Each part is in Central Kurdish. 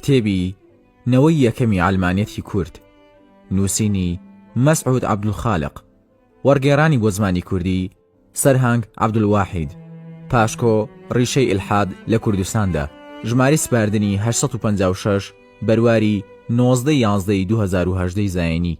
کتێبی، نەوەی یەکەمی عەلمانیەتی کورد، نووسینی، مەسعود عەبدولخالق، وەڕگێڕانی بۆ زمانی کوردی، سەرهەنگ عەبدولواحید، پاشکۆ، ڕیشەی ئیلحاد لە کوردستاندا، ژمارەی سپاردنی، هەشت سەد و پەنجا و شەش، بەرواری، نۆزدە یازدە ی دوو هەزار و هەژدە ی زایینی.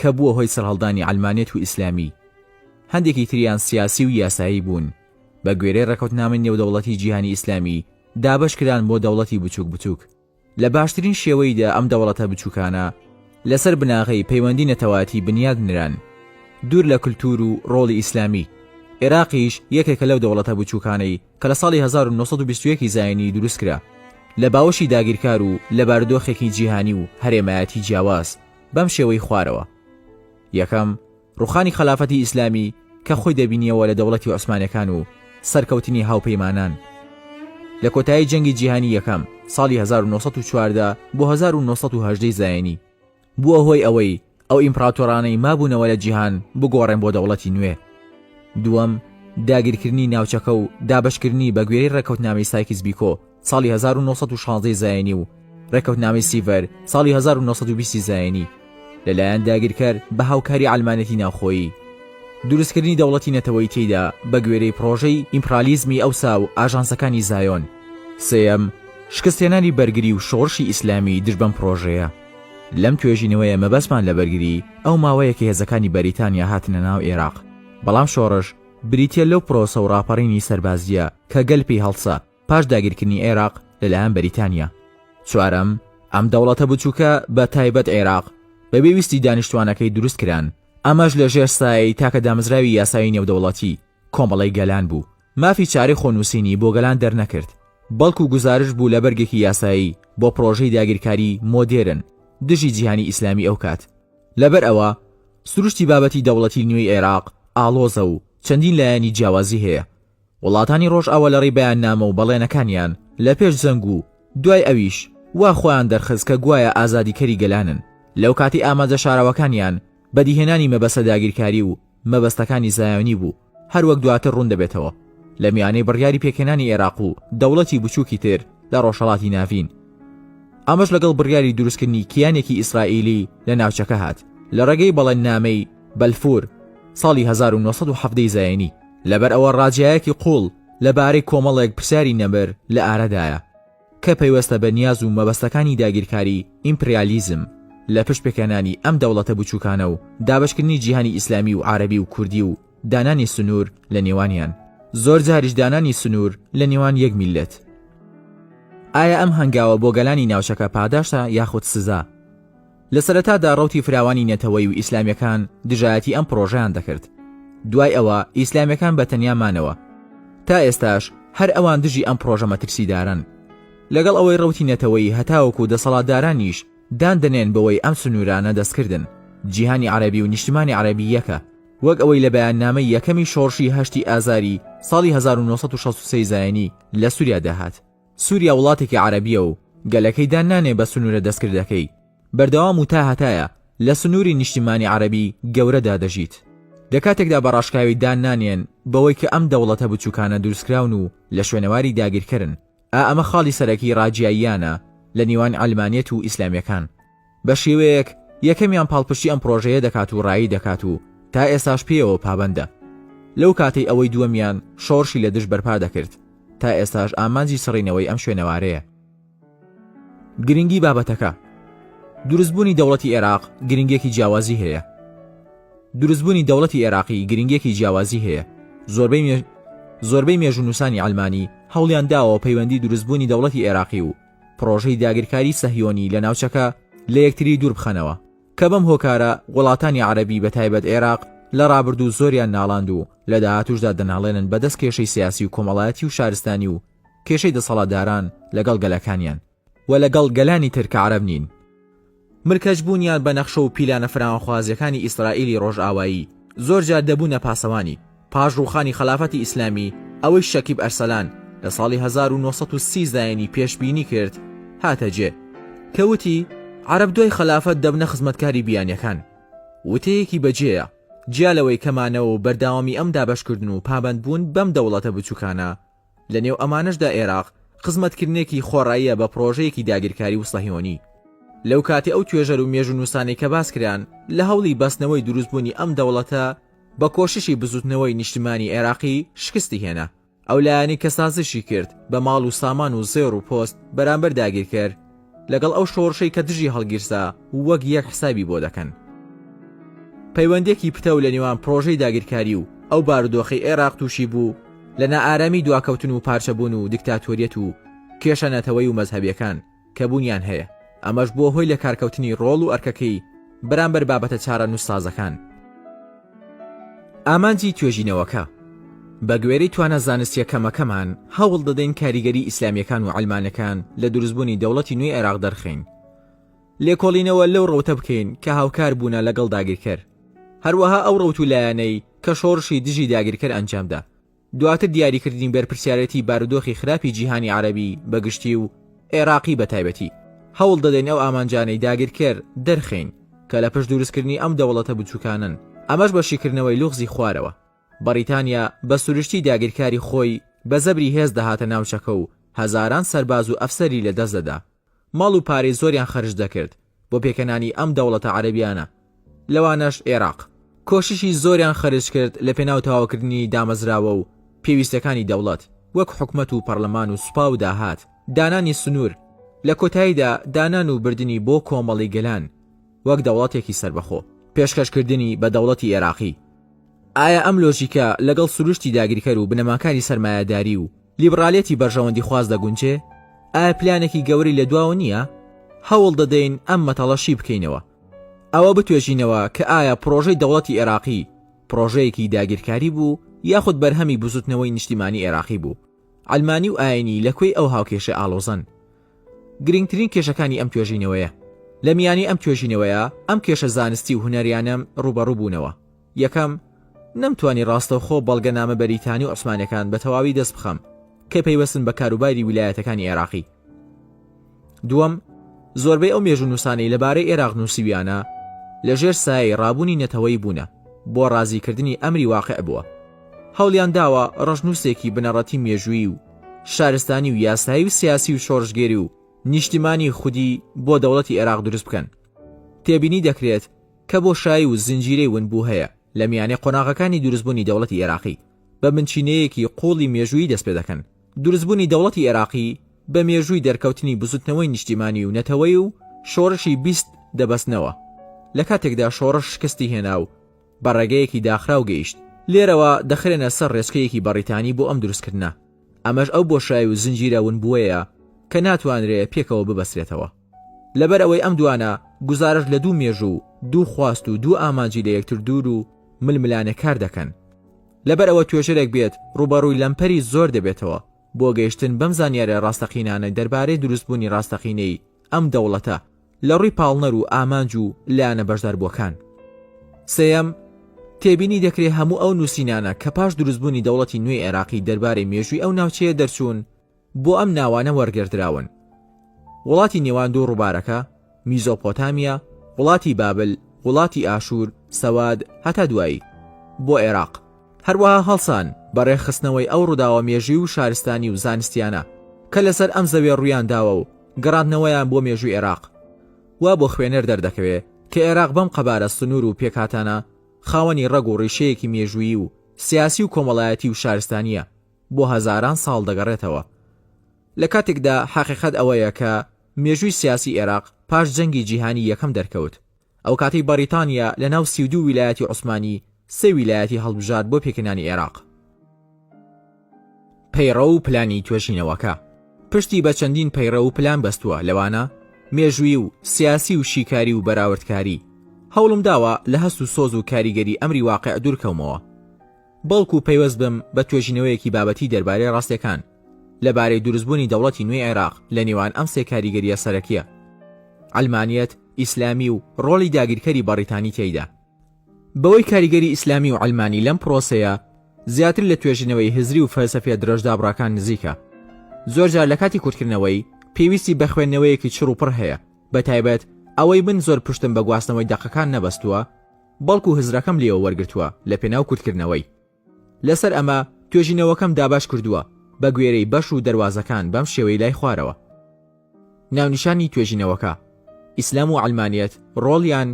کە بووە هۆی سەرهەڵدانی عەلمانیەت و ئیسلامی، هەندێکی تریان سیاسی و یاسایی بوون، بە گوێرەی ڕێکەوتنامەی نێودەوڵەتی جیهانی ئیسلامی دابەش کران بۆ دەوڵەتی بچووک بچووک، لە باشترین شێوەی دا ئەم دەوڵەتە بچووکانە لەسەر بناغەی پەیوەندی نەتەوایەتی بنیاد نران دوور لە کلتوور و ڕۆڵی ئیسلامی، ئێراقیش یەکێکە لەو دەوڵەتە بچووکانەی کە لە ساڵی هەزار و نۆ سەد و بیست و یەک ی زاینی دروست کرا لە باوەشی داگیرکار و لە بارودۆخێکی جیهانی و هەرێمایەتی جیاواز بەم شێوەی خوارەوە یەکەم ڕوخانی خەلافەتی ئیسلامی کە خۆی دەبینیەوە لە دەوڵەتی عوسمانەکان و سەرکەوتنی هاوپەیمانان لە کۆتایی جەنگی جیهانی یەکەم ساڵی 1940 بۆ 1970 زایانی بووە هۆی ئەوەی ئەو ئیمپراتۆرانەی مابوونەوە لە جیهان بگۆڕێن بۆ دەوڵەتی نوێ دووەم داگیرکردنی ناوچەکە و دابشکردنی بەگوێرەی ڕێککەوتنامەی سایکیس بیکۆ ساڵی هەزار و نۆ سەد و شازدەی زایینی و ڕێکەوتنامەی سیڤەر ساڵی هەزار و نۆ سەد و بیستی زایینی لەلایەن داگیرکەر بە هاوکاری عەلمانێتی ناوخۆیی دروستکردنی دەوڵەتی نەتەوەیی تێیدا بە گوێرەی پڕۆژەی ئیمپڕالیزمی ئەوسا و ئاژانسەکانی زایۆن. سێیەم، شکستهێنانی بەرگری و شۆڕشی ئیسلامی دژ بەم پڕۆژەیە. لەم توێژینەوەیە مەبەستمان لە بەرگری ئەو ماوەیە کە هێزەکانی بەریتانیا هاتنە ناو ئێراق، بەڵام شۆڕش بریتییە لەو پرۆسە و ڕاپەڕینی سەربازییە کە گەل پێی هەڵسا، پاش داگیرکردنی عێراق لەلایەن بەریتانیا. چوارەم، ئەم دەوڵەتە بچووکە بە تایبەت عێراق بەبێ ویستی دانیشتوانەکەی دروست کران، ئەمەش لە ژێر سایەی تاکە دامەزراوی یاسایی نێودەوڵەتی، کۆمەڵەی گەلان بوو، مافی چارەی خۆنووسینی بۆ گەلان دەرنەکرد، بەڵکو گوزارشت بوو لە بەرگێکی یاسایی بۆ پڕۆژەی داگیرکاری مۆدێرن دژی جیهانی ئیسلامی ئەو کات. لەبەر ئەوە سروشتی بابەتی دەوڵەتی نوێی عێراق ئاڵۆزە و چەندین لایەنی جیاوازی هەیە، وڵاتانی ڕۆژئاوا لە ڕێی بەیاننامە و بەڵێنەکانیان لە پێش جەنگ و دوای ئەویش وا خۆیان دەرخست کە گوایە ئازادیکەری گەلانن، لەوکاتەی ئامانجە شاراوەکانیان بەدیهێنانی مەبەستە داگیرکاری و مەبەستەکانی زایۆنی بوو، هەروەک دواتر ڕوون دەبێتەوە لە میانەی بڕیاری پێکهێنانی ئێراق و دەوڵەتی بچووکی تر لە ڕۆژهەڵاتی ناڤین. ئەمەش لەگەڵ بڕیاری دروستکردنی کیانێکی ئیسرائیلی لە ناوچەکە هات لە ڕێگەی بەڵێننامەی، بەلفور، ساڵی هەزار و نۆ سەد و حەڤدە ی زایۆنی. لەبەر ئەوە ڕاجایەکی قوڵ لەبارەی کۆمەڵێک پرسیاری نەمر لە ئارەدایە کە پەیوەستە بە نیاز و مەبەستەکانی داگیرکاری ئیمپریالیزم لە پشت پێکهێنانی ئەم دەوڵەتە بچووکانە و دابشکردنی جیهانی ئیسلامی و عربی و کوردی و دانانی سنوور لە نێوانیان زۆر جاریش دانانی سنوور لە نێوان یەک میلەت ئایا ئەم هەنگاوە بۆ گەلانی ناوچەکە پاداشتە یاخود سزا لە سەرەتادا ڕەوتی فراوانی نەتەوەیی و ئیسلامیەکان دژایەتی ئەم پڕۆژەیان دەکرد، دوای ئەوە ئیسلامیەکان بە تەنیا مانەوە، تا ئێستاش هەر ئەوان دژی ئەم پڕۆژە مەترسیدارەن، لەگەڵ ئەوەی ڕەوتی نەتەوەیی هەتاوەکو دەسەڵاتدارانیش دان دەنێن بەوەی ئەم سنوورانە دەستکردن، جیهانی عەرەبی و نیشتمانی عەرەبی یەکە، وەک ئەوەی لە بەیاننامەی یەکەمی شۆڕشی هەشتی ئازاری ساڵی هەزار و نۆ سەد و شەست و سێ زایینی لە سوریادا هات. سوریا وڵاتێکی عەرەبیە و گەلەکەی دان نانێ بە سنورە دەستکردەکەی بەردەوام و تاهەتایە لە سنوری نیشتیمانی عەرەبی گەورەدا دەژیت لە کاتێکدا بە ڕاشکاوی دان نانێن بەوەی کە ئەم دەوڵەتە بچوکانە دروستکراون و لە شوێنەواری داگیرکەرن ئا ئەمە خاڵی سەرەکی ڕاجیاییانە لە نیوان عەلمانیەت و ئیسلامیەکان بە شێوەیەک یەکەمیان پاڵپشتی ئەم پرۆژەیە دەکات و ڕایی دەکات و تا ئێساش پێیەوە پابەندە لەو کاتەی ئەوەی دووەمیان شۆڕشی لە دژ بەرپا دەکرد تا ئێستاش ئامانجی سڕینەوەی ئەم شوێنەوارەیە گرنگی بابەتەکە دروستبوونی دەوڵەتی عێراق گرنگێکی جیاوازی هەیە دروستبوونی دەوڵەتی عێراقی گرنگێکی جیاوازی هەیە زۆربەی مێ... زۆربەی مێژونووسانی ئەلمانی هەوڵیان داوە پەیوەندی دروستبوونی دەوڵەتی عێراقی و پڕۆژەی داگیرکاری سەهیۆنی لە ناوچەکە لە یەکتری دوور بخەنەوە، کە بەم هۆکارە وڵاتانی عەرەبی بە تایبەت عێراق لە ڕابردوو زۆریان ناڵاند و لە داهاتووشدا دەناڵێنن بە دەست کێشەی سیاسی و کۆمەڵایەتی و شارستانی و کێشەی دەسەڵاتداران لەگەڵ گەلەکانیان و لەگەڵ گەلانی تر کە عەرەب نین. ملکەچ بوونیان بە نەخشە و پیلانە فراوانخوازییەکانی ئیسرائیلی ڕۆژئاوایی، زۆر جار دەبوونە پاسەوانی. پاش ڕووخانی خەلافەتی ئیسلامی، ئەوەی شەکیب ئەرسەلان لە ساڵی هەزار و نۆ سەد و سی زایینی پێشبینی کرد، هاتە جێ، کە وتی، عەرەب دوای خەلافەت دەبنە خزمەتکاری بیانییەکان. وتەیەکی بەجێیە، جیا لەوەی کە مانەوە و بەردەوامی ئەم دابەشکردن و پابەندبوون بەم دەوڵەتە بچووکانە، لە نێو ئەمانەشدا ئێراق خزمەتکردنێکی خۆڕاییە بە پڕۆژەیەکی داگیرکاری وسەهیۆنی. لەو کاتی ئەو توێژەر و مێژوونووسانەی کە باس کران لە هەوڵی بەستنەوەی دروستبوونی ئەم دەوڵەتە بە کۆششی بزووتنەوەی نیشتمانی ئێراقی شکستی هێنا. ئەو لایەنەی کە سازشی کرد بە ماڵ و سامان و زێڕ و پۆست بەرامبەر داگیرکەر، لەگەڵ ئەو شۆڕشەی کە دژی هەڵگیرسا وەک یەک حسابی بۆ دەکەن. پەیوەندێکی پتەو لە نێوان پرۆژەی داگیرکاری و ئەو بارودۆخەی ئێراق تووشی بوو لە نائارامی دواکەوتن و پارچەبوون و دیکتاتۆریەت و کێشە نەتەوەی و مەزهەبیەکان کە بوونیان هەیە ئەمەش بووە هۆی لەکارکەوتنی ڕۆڵ و ئەرکەکەی بەرامبەر بابەتە چارەنووسسازەکان. ئامانجی توێژینەوەکە، بە گوێرەی توانا زانستییە کەمەکەمان، هەوڵ دەدەین کاریگەری ئیسلامییەکان و عەلمانەکان لە دروستبوونی دەوڵەتی نوێی عێراق دەرخەین. لێکۆڵینەوە لەو ڕەوتە بکەین کە هاوکار بوونە لەگەڵ داگیرکەر، هەروەها ئەو ڕەوت و لایەنەی کە شۆڕشی دژی داگیرکەر ئەنجامدا. دواتر دیاریکردنی بەرپرسیارێتی بارودۆخی خراپی جیهانی عەرەبی بە گشتی و عێراقی بە تایبەتی، هەوڵ دەدەین ئەو ئامانجانەی داگیرکەر دەرخەین کە لە پشت دروستکردنی ئەم دەوڵەتە بچوکانەن، ئەمەش بە شیکردنەوەی لوغزی خوارەوە. بەڕیتانیا بە سروشتی داگیرکاری خۆی بە زەبری هێز دەهاتە ناوچەکە و هەزاران سەرباز و ئەفسەری لە دەست دەدا. ماڵ و پارەی زۆریان خەرج دەکرد بۆ پێکهێنانی ئەم دەوڵەتە عەرەبیانە لەوانەش ئێراق کۆششی زۆریان خەرج کرد لە پێناو تەواوکردنی دامەزراوە و پێویستەکانی دەوڵەت وەک حکومەت و پەڕلەمان و سوپا و داهات دانانی سنور لە کۆتاییدا دانان و بردنی بۆ کۆمەڵی گەلان وەک دەوڵەتێکی سەربەخۆ پێشکەش کردنی بە دەوڵەتی ئێراقی. ئایا ئەم لۆژیکە لەگەڵ سروشتی داگیرکەر و بنەماکانی سەرمایەداری و لیبڕالیەتی بەرژەوەندیخواز دەگونجێ؟ ئایا پلانێکی گەورەی لە دواوە نییە؟ هەوڵ دەدەین ئەم مەتەڵە شی بکەینەوە. ئەوە بتوێژینەوە کە ئایا پڕۆژەی دەوڵەتی ئێراقی پڕۆژەیەکی داگیرکاری بوو یاخود بەرهەمی بزووتنەوەی نیشتیمانی ئێراقی بوو؟ عەلمانی و ئایینی لە کوێی ئەو هاوکێشە ئاڵۆزەن؟ گرینگترین کێشەکانی ئەم توێژینەوەیە. لە میانی ئەم توێژینەوەیە ئەم کێشە زانستی و هونەریانەم ڕووبەڕوو بوونەوە. یەکەم، نەمتوانی ڕاستەوخۆ بەڵگەنامە بەریتانی و عوسمانیەکان بە تەواوی دەست بخەم کە پەیوەستن بە کاروباری ویلایەتەکانی عێراقی. دووەم، زۆربەی ئەو مێژوونووسانەی لەبارەی ئێراق نووسیویانە لە ژێر سایەی ڕابوونی نەتەوەیی بوونە، بۆ ڕازیکردنی ئەمری واقیع بووە. هەوڵیان داوە ڕەشنووسێکی بنەڕەتی مێژوویی و شارستانی و یاسایی و سیاسی و شۆڕشگێری و نیشتیمانی خودی بۆ دەوڵەتی ئێراق دروست بکەن. تێبینی دەکرێت کە بۆشایی و زنجیرەی ونبوو هەیە لە میانەی قۆناغەکانی دروستبوونی دەوڵەتی ئێراقی، بە بنچینەیەکی قووڵی مێژوویی دەست پێ دەکەن. دروستبوونی دەوڵەتی ئێراقی بە مێژووی دەرکەوتنی بزووتنەوەی نیشتیمانی و نەتەوەیی و شۆڕشی بیست دەبەستنەوە، لە کاتێکدا شۆڕش شکستی هێنا و بە ڕێگەیەکی داخراو گەیشت. لێرەوە دەخرێنە سەر ڕێچکەیەکی بەڕیتانی بۆ ئەم دروستکردنە، ئەمەش ئەو بۆشایی و زنجیرە ونبووەیە کە ناتوانرێ پێکەوە ببەسترێتەوە. لەبەر ئەوەی ئەم دوانە گوزارشت لە دوو مێژوو و دوو خواست و دوو ئامانجی لە یەکتر دوور و ململانێ کار دەکەن. لەبەر ئەوە توێژەرێک بێت ڕووبەڕووی لەمپەری زۆر دەبێتەوە بۆ گەیشتن بەم زانیاریە ڕاستەقینانە دەربارەی دروست بوونی ڕاستەقینەی ئەم دەوڵەتە لە ڕووی پاڵنەر و ئامانج و لایەنە بەشداربووەکان. سێیەم، تێبینی دەکرێ هەموو ئەو نووسینانە کە پاش دروست بوونی دەوڵەتی نوێی عێراقی دەربارەی مێژووی ئەو ناوچەیە دەرچوون، بۆ ئەم ناوانە وەرگردراون، وڵاتی نێوان دوو ڕووبارەکە، میزۆپۆتامیا، وڵاتی بابل، وڵاتی ئاشوور، سەواد، هەتا دوایی، بۆ ئێراق. هەروەها هەڵسان بە ڕێکخستنەوەی ئەو ڕووداوە مێژووی و شارستانی و زانستییانە کە لەسەر ئەم زەوێ ڕوویان داوە و گەڕاندنەوەیان بۆ مێژووی ئێراق، وا بۆ خوێنەر دەردەکەوێ کە ئێراق بەم قەبارە سنوور و پێکهاتانە خاوەنی ڕەگ و ڕیشەیەکی مێژوویی و سیاسی و کۆمەڵایەتی و شارستانییە. بۆ هەزاران ساڵ دەگەڕێتەوە، لە کاتێکدا حەقیقەت ئەوەیە کە مێژووی سیاسی ئێراق پاش جەنگی جیهانی یەکەم دەرکەوت، ئەو کاتەی بەڕیتانیا لە ناو سی و دوو ویلایەتی عوسمانی سێ ویلایەتی هەڵبژارد بۆ پێکنانی ئێراق. پەیڕەو و پلانی توێژینەوەکە پشتی بە چەندین پەیڕەو و پلان بەستووە، لەوانە مێژووی و سیاسی و شیکاری و بەراوردکاری. هەوڵم داوە لە هەست و سۆز و کاریگەری ئەمری واقیع دوورکەومەوە. بەڵکو پەیوەست بم بە توێژینەوەیەکی بابەتی دەربارەی ڕاستیەکان لە بارەی دروستبوونی دەوڵەتی نوێی عێراق لە نێوان ئەم سێ کاریگەریە سەرەکیە، عەلمانیەت، ئیسلامی و ڕۆڵی داگیرکەری بەڕیتانی تێیدا. بەوەی کاریگەری ئیسلامی و عەلمانی لەم پرۆسەیە زیاتر لە توێژینەوەی هزری و فەلسەفیە درەژدابڕەکان نزیکە، زۆرجار لە کاتی کورتکردنەوەی، پێویستی بە خوێندنەوەیەکی چڕ و پڕ هەیە، بەتایبەت ئەوەی من زۆر پشتم بە گواستنەوەی دەقەکان نەبەستووە، بەڵکو هزرەکەم لێوە وەرگرتووە لەپێناو کورتکردنەوەی. لەسەر ئەمە توێژینەوەکەم دابەش کردووە بەگوێرەی بەش و دەروازەکان بەم شێوەی لای خوارەوە. ناونیشانی توێژینەوەکە، ئیسلام و عەلمانیەت، ڕۆڵیان،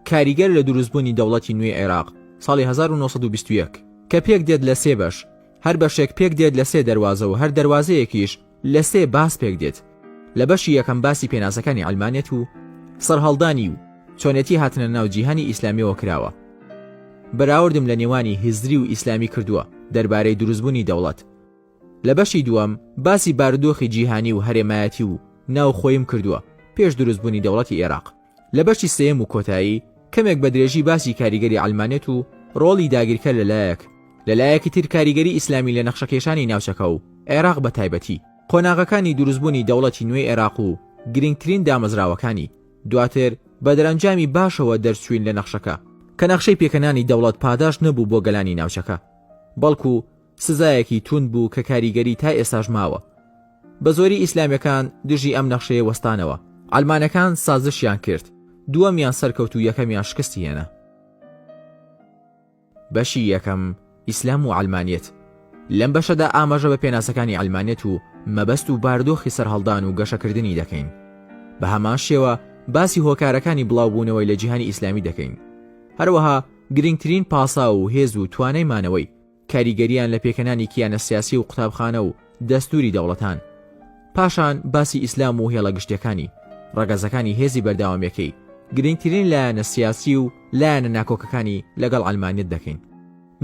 کاریگەر لە دروستبوونی دەوڵەتی نوێی عێراق، ساڵی هەزار و نۆ سەد و بیست و یەک، کە پێکدێت لە سێ بەش، هەر بەشێک پێکدێت لە سێ دەروازە و هەر دەروازەیەکیش، لە سێ باس پێک دێت، لە بەشی یەکەم باسی پێناسەکانی عەلمانیەت و سەرهەڵدانی و چۆنێتی هاتنە ناو جیهانی ئیسلامیەوە کراوە. بەراوردم لە نێوانی هزری و ئیسلامی کردووە دەربارەی دروستبوونی دەوڵەت. لە بەشی دووەم باسی بارودۆخی جیهانی و هەرێمایەتی و ناوخۆیم کردووە پێش دروستبوونی دەوڵەتی ئێراق. لە بەشی سێیەم و کۆتایی کەمێک بە درێژی باسی کاریگەری عەلمانێت و ڕۆڵی داگیرکەر لە لایەک، لە لایەکی تر کاریگەری ئیسلامی لە نەخشەکێشانی ناوچەکە و عێراق بە تایبەتی، قۆناغەکانی دروستبوونی دەوڵەتی نوێی عێراق و گرنگترین دامەزراوەکانی، دواتر بە دەرەنجامی باشەوە دەرچووین لە نەخشەکە، کە نەخشەی پێکهێنانی دەوڵەت پاداشت نەبوو بۆ گەلانی ناوچەکە، بەڵکو سزایەکی توند بوو کە کاریگەری تا ئێستاش ماوە. بە زۆری ئیسلامیەکان دژی ئەم نەخشەیە وەستانەوە. عەلمانەکان سازشیان کرد، دووەمیان سەرکەوت و یەکەمیان شکستی هێنا. بەشی یەکەم، ئیسلام و عەلمانیەت. لەم بەشەدا ئاماژە بە پێناسەکانی عەلمانیەت و مەبەست و باردۆخی سەرهەڵدان و گەشەکردنی دەکەین. بە هەمان شێوە باسی هۆکارەکانی بڵاوبوونەوەی لە جیهانی ئیسلامی دەکەین. هەروەها گرنگترین پاساو و هێز و توانای مانەوەی. کاریگەریان لە پێکهێنانی کیانە سیاسی و قوتابخانە و دەستووری دەوڵەتان. پاشان باسی ئیسلام و هێڵە گشتیەکانی، ڕەگەزەکانی هێزی بەرداوامیەکەی، گرنگترین لایەنە سیاسی و لایەنە ناکۆکەکانی لەگەڵ عەلمانیەت دەکەین.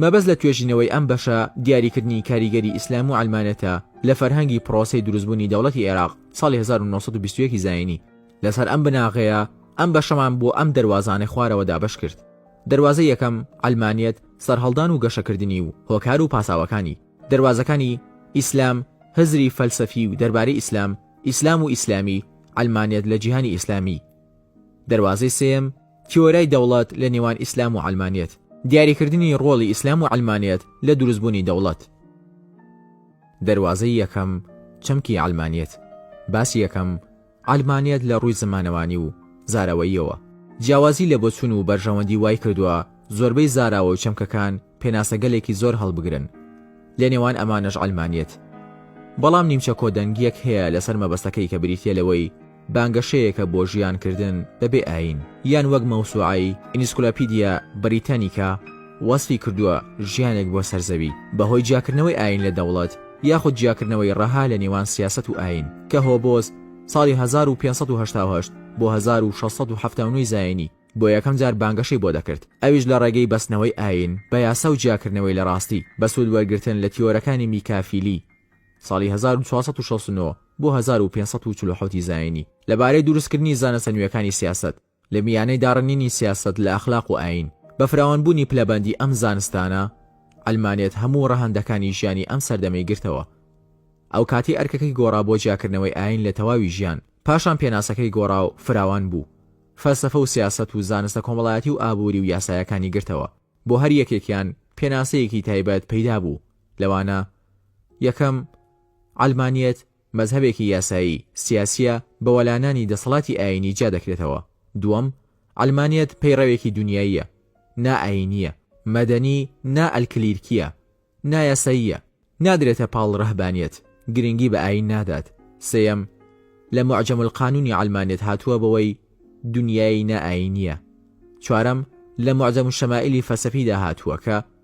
مەبەست لە توێژینەوەی ئەم بەشە دیاریکردنی کاریگەری ئیسلام و عەلمانیەتە لە فەرهەنگی پڕۆسەی دروستبوونی دەوڵەتی عێراق ساڵی هەزار و نۆ سەد و بیست و یەک ی زایینی. لەسەر ئەم بناغەیە ئەم بەشەمان بۆ ئەم دەروازانەی خوارەوە دابەشکرد. دەروازەی یەکەم، عەلمانیەت، سەرهەڵدان و گەشەکردنی و هۆکار و پاساوەکانی، دەروازەکانی، ئیسلام، هزری فەلسەفی و دەربارەی ئیسلام، ئیسلام و ئیسلامی، عەلمانیەت لە جیهانی ئیسلامی. دەروازەی سێیەم، تیۆرای دەوڵەت لە نێوان ئیسلام و عەلمانیەت، دیاریکردنی ڕۆڵی ئیسلام و عەلمانیەت لە دروستبوونی دەوڵەت. دەروازەی یەکەم، چەمکی عەلمانیەت، باسی یەکەم، عەلمانیەت لە ڕووی زمانەوانی و زاراوەییەوە جیاوازی لە بۆچوون و بەرژەوەندی وای کردووە زۆربەی زاراوە و چەمکەکان پێناسەگەلێکی زۆر هەڵبگرن لە نێوان ئەمانەش عەلمانیەت بەڵام نیمچە کۆدەنگیەک هەیە لەسەر مەبەستەکەی کە بریتیە لەوەی بانگەشەیەکە بۆ ژیانکردن بەبێ ئایین یان وەک مەوسوعەی، Encyclopedia Britannica، وەسفی کردووە ژیانێک بۆ سەر زەوی بەهۆی جیاکردنەوەی ئایین لە دەوڵەت یاخود جیاکردنەوەی ڕەها لە نێوان سیاسەت و ئایین کە هۆبۆز ساڵی هەزار و پێنج سەد و هەشتا و هەشت بۆ هەزار و شەش سەد و حەفتا و نۆ زایینی بۆ یەکەم جار بانگەشەی بۆ دەکرد ئەویش لە ڕێگەی بەستنەوەی ئایین بە یاسا و جیاکردنەوەی لە ڕاستی بە سوود وەرگرتن لە تیۆرەکانی میکافیلی ساڵی هەزار و چوار سەد و شەست و نۆ بۆ هەزار و پێنج سەد و چل و حەوت زایینی لەبارەی دروستکردنی زانستە نوێکانی سیاسەت. لە میانەی داڕنینی سیاسەت لە ئەخلاق و ئایین، بە فراوانبوونی پلەبەندی ئەم زانستانە، عەلمانیەت هەموو ڕەهەندەکانی ژیانی ئەم سەردەمەی گرتەوە. ئەو کاتی ئەرکەکەی گۆڕا بۆ جیاکردنەوەی ئایین لە تەواوی ژیان، پاشان پێناسەکەی گۆڕا و فراوان بوو. فەلسەفە و سیاسەت و زانستە کۆمەڵایەتی و ئابووری و یاسایەکانی گرتەوە. بۆ هەر یەکێکیان پێناسەیەکی تایبەت پەیدا بوو، لەوانە، یەکەم، عەلمانیەت، مەزهەبێکی یاسایی، سیاسییە، بە وەلانانی دەسەڵاتی ئایینی جیا دەکرێتەوە. دووەم، عەلمانیەت پەیڕەوێکی دونیاییە، نا ئایینییە، مەدەنی، نا ئەلکلیرکییە، نایاساییە، نادرێتە پاڵ رەهبانیەت، گرنگی بە ئایین نادات. سێیەم، لە موعجەم القانونی عەلمانیەت هاتووە بەوەی دونیای نا ئایینییە. چوارەم، لە موعجەم الشمائلی فەلسەفیدا هاتووە کە،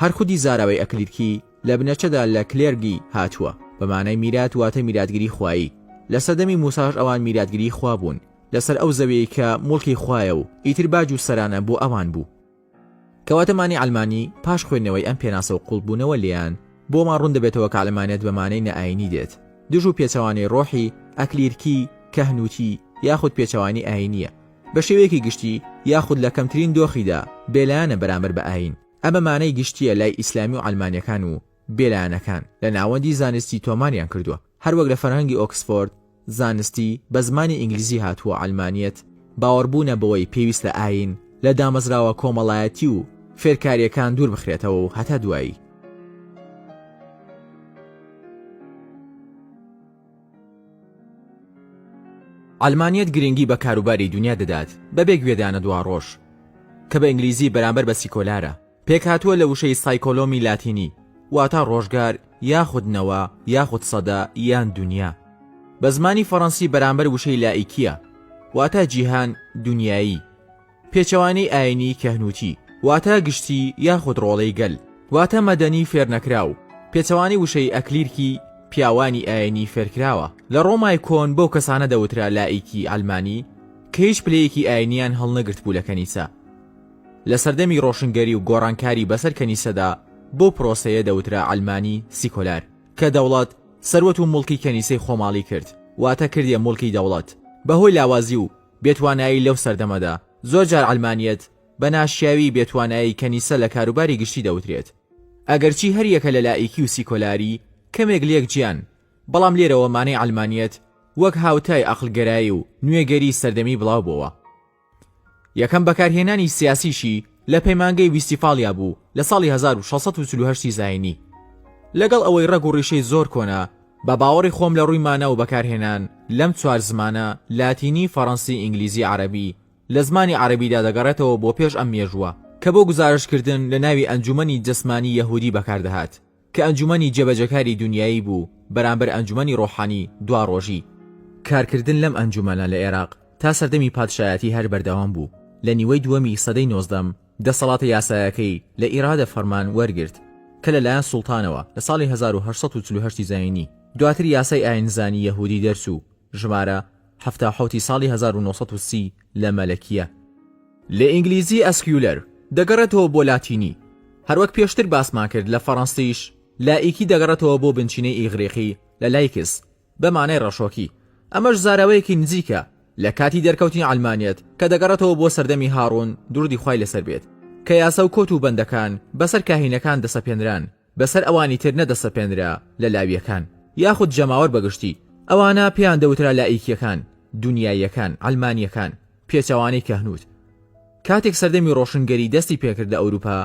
هەر خودی زاراوەی ئەکلیرکی لە بنەچەدا لە کلێرگی هاتووە، بە مانای میرات واتە میراتگری خوایی. لە سەردەمی موساش ئەوان میراتگری خوا بوون لەسەر ئەو زەویەی کە موڵکی خوایە و ئیتر باج و سەرانە بۆ ئەوان بوو. کەواتە مانی عەلمانی پاش خوێندنەوەی ئەم پێناسە و قوڵبوونەوە لێیان، بۆمان ڕوون دەبێتەوە کە عەلمانیەت بە مانای نائایینی دێت. دژ و پێچەوانەی ڕۆحی، ئەکلیرکی، کەهنووتی، یاخود پێچەوانەی ئایینییە. بە شێوەیەکی گشتی، یاخود لە کەمترین دۆخیدا، بێلایەنە بەرامبەر بە ئایین. ئەمە مانای گشتییە لای ئیسلامی و عەلمانیەکان و بێلایەنەکان لە ناوەندی زانستی تۆماریان کردووە، هەر وەک لە فەرهەنگی ئۆکسفۆرد زانستی بە زمانی ئینگلیزی هاتووە عەلمانیەت باوەڕبوونە بەوەی پێویستە ئایین لە دامەزراوە کۆمەڵایەتی و فێرکاریەکان دوور بخرێتەوە و هەتا دوایی. عەلمانیەت گرینگی بە کاروباری دونیا دەدات بەبێ گوێدانە دواڕۆژ، کە بە ئینگلیزی بەرامبەر بە سیکۆلارە، پێکهاتووە لە وشەی سایکۆلۆمی لاتینی واتا ڕۆژگار یاخود نەوە یاخود سەدە یان دونیا، بە زمانی فەڕەنسی بەرامبەر وشەی لائیکیە واتا جیهان، دونیایی، پێچەوانەی ئاینی کەهنووتی واتە گشتی یاخود ڕۆڵەی گەل واتە مەدەنی فێرنەکراو، پێچەوانەی وشەی ئەکلیرکی پیاوانی ئاینی فێرکراوە. لە ڕۆمای کۆن بەو کەسانە دەوترا لائیکی عەلمانی کە هیچ پلەیەکی ئاینیان هەڵنەگرتبوو لە کەنیسە. لە سەردەمی ڕۆشنگەری و گۆڕانکاری بەسەر کەنیسەدا بەو پرۆسەیە دەوترا عەلمانی سیکۆلار کە دەوڵەت، سەروەت و موڵکی کەنیسەی خۆماڵی کرد واتە کردیە موڵکی دەوڵەت بەهۆی لاوازی و بێتوانایی لەو سەردەمەدا، زۆر جار عەلمانیەت بە ناشیاوی بێتوانایی کەنیسە لە کاروباری گشتی دەوترێت. ئەگەرچی هەر یەکە لە لائیکی و سیکۆلاری کەمێک لێک جیان، بەڵام لێرەوە مانای عەلمانیەت وەک هاوتای ئەقڵگەرایی و نوێگەری سەردەمی بڵاو بۆوە. یەکەم بەکارهێنانی سیاسیشی لە پەیمانگەی ویستیفالیا بوو لە ساڵی هەزار و شەش سەد و چل و هەشت ی زاینی. لەگەڵ ئەوەی ڕەگ و ڕیشەی زۆر کۆنە، بە باوەڕی خۆم لە ڕووی مانا و بەکارهێنان لەم چوار زمانە، لاتینی، فەڕەنسی، ئینگلیزی، عەرەبی، لە زمانی عەرەبیدا دەگەڕێتەوە بۆ پێش ئەم مێژووە، کە بۆ گوزارشتکردن لە ناوی ئەنجوومەنی جەسمانی یەهوودی بەکار دەهات. کە ئەنجومەنی جێبەجێکاری دونیایی بوو بەرامبەر ئەنجومەنی ڕۆحانی دواڕۆژی. کارکردن لەم ئەنجومەنە لە ئێراق تا سەردەمی پادشایەتی هەر بەردەوام بوو، لە نیوەی دووەمی سەدەی نۆزدەم دەسەڵاتە یاسایەکەی لە ئیرادە فەرمان وەرگرت کە لە لایەن سوڵتانەوە لە ساڵی هەزار و هەشت سەد و چل و هەشت زایینی، دواتر یاسای ئایینزانی یەهوودی دەرچوو. ژمارە، حەفتا و حەوت ی ساڵی هەزار و نۆ سەد و سی لە مەلەکییە. لە ئینگلیزی ئەسکیولەر دەگەڕێتەوە بۆ لاتینی. هەروەک پێشتر باسمان کرد لە فەڕەنسیش لائیکی دەگەڕێتەوە بۆ بنچینەی ئیغریقی لە لایکس بە مانای ڕەشۆکی. ئەمەش زاراوەیەکی نزیکە لە کاتی دەرکەوتنی عەلمانیەت کە دەگەڕێتەوە بۆ سەردەمی هاڕون دروودی خوای لەسەر بێت کە یاسا و کۆت و بەندەکان بەسەر کاهینەکان دەسەپێنران. بەسەر ئەوانی تر نەدەسەپێنرا لە لاویەکان یاخود جەماوەر بەگشتی، ئەوانە پێیان دەوترا لائیکیەکان، دونیاییەکان، عەلمانیەکان، پێچەوانەی کەهنوت. کاتێک سەردەمی ڕۆشنگەری دەستی پێکرد لە ئەوروپا،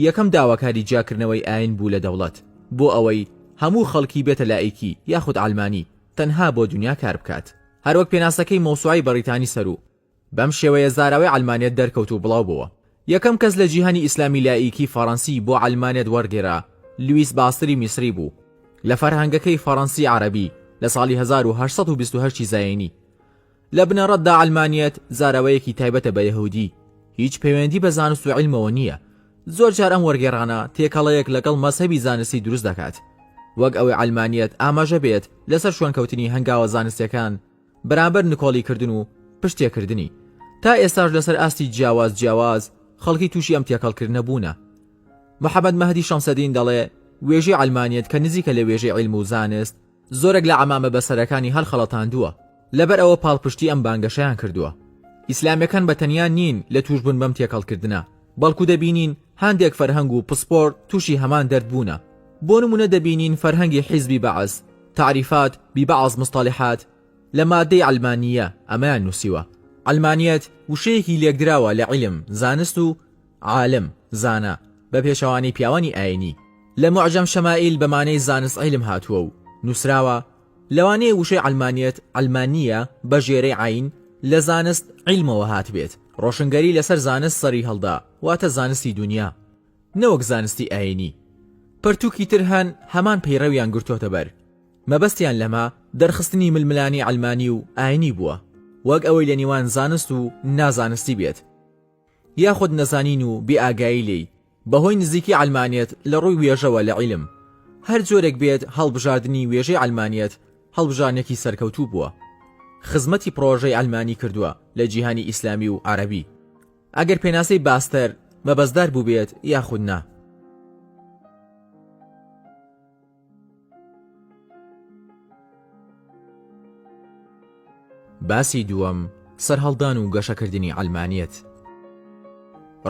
یەکەم داواکاری جیاکردنەوەی ئایین بوو لە دەوڵەت، بۆ ئەوەی هەموو خەڵکی بێتە لائیکی یاخود عەلمانی، تەنها بۆ دونیا کاربکات. هەروەک پێناسەکەی مەوسوعەی بەڕیتانی سەروو. بەم شێوەیە زاراوەی عەلمانێت دەرکەوت و بڵاو بۆوە. یەکەم کەس لە جیهانی ئیسلامی لائیکی فەڕەنسی بۆ عەلمانێت وەرگێرا لویس باستری میسری بوو لە فەرهەنگەکەی فەڕەنسی عەرەبی لە ساڵی هەزار و هەشت سەد و بیست و هەشت ی زایینی. لە بنەڕەتدا عەلمانیەت زاراوەیەکی تایبەتە بە یەهودی هیچ پەیوەندی بە زانست و عیلمەوە نییە. زۆر جار ئەم وەرگێڕانە تێکەڵەیەک لەگەڵ مەزهەبی زانستی دروست دەکات وەک ئەوەی عەلمانیەت ئاماژە بێت لەسەر شوێنکەوتنی هەنگاوە زانستیەکان بەرامبەر نکۆڵی کردن و پشت تێکردنی تا ئێستاش لەسەر ئاستی جیاواز جیاواز خەڵکی تووشی ئەم تێکەڵکردنە بوونە محەممەد مەهدی شەمسەدین دەڵێ وێژەی ئەلمانیت کە نزیکە لە وێژەی عیلم و زانست زۆرێک لە عەمامە بەسەرەکانی هەڵخەڵەتاندووە لەبەر ئەوە پاڵپشتی ئەم بانگەشەیان کردووە ئیسلامیەکان بە تەنیا نین لە تووشبوون بەم تێکەڵکردنە بەڵکو دەبینین هەندێک فەرهەنگ و پسپۆر تووشی هەمان دەرد بوونە بۆ نمونە دەبینین فەرهەنگی حیزبی بەعس تعریفات ببعض مصطلحات لە مادەی عەلمانییە ئەمەیان نووسیوە، عەلمانیەت وشەیەکی لێکدراوە لە عیلم، زانست و عالم، زانا، بە پێچەوانەی پیاوانی ئاینی. لە معجم شمائیل بە مانای زانست عیلم هاتووە و نووسراوە، لەوانەیە وشەی عەلمانیەت، علمانیە، بە ژێرەی عەین، لە زانست عیلمەوە هاتبێت، ڕۆشنگەری لەسەر زانست سەری هەڵدا، واتە زانستی دونیا. نەوەک زانستی ئایینی. پەرتووکی تر هەن هەمان پەیڕەویان گرتۆتە بەر، مەبەستیان لەمە دەرخستنی ململانی عەلمانی و ئایینی بووە، وەک ئەوەی لە نیوان زانست و نازانستی بێت، یاخود نەزانین و بێ ئاگایی لێی، بە هۆی نزیکی عەلمانیەت لە ڕووی وێژەوە لە عیلم. هەر جۆرێک بێت هەڵبژاردنی وێژەی عەلمانیەت هەڵبژاردنێکی سەرکەوتوو بووە. خزمەتی پڕۆژەی عەلمانی کردووە لە جیهانی ئیسلامی و عەرەبی. ئەگەر پێناسەی باستەر مەبەستدار بووبێت یاخود نا. باسی دووەم، سەرهەڵدان و گەشەکردنی عەلمانیەت.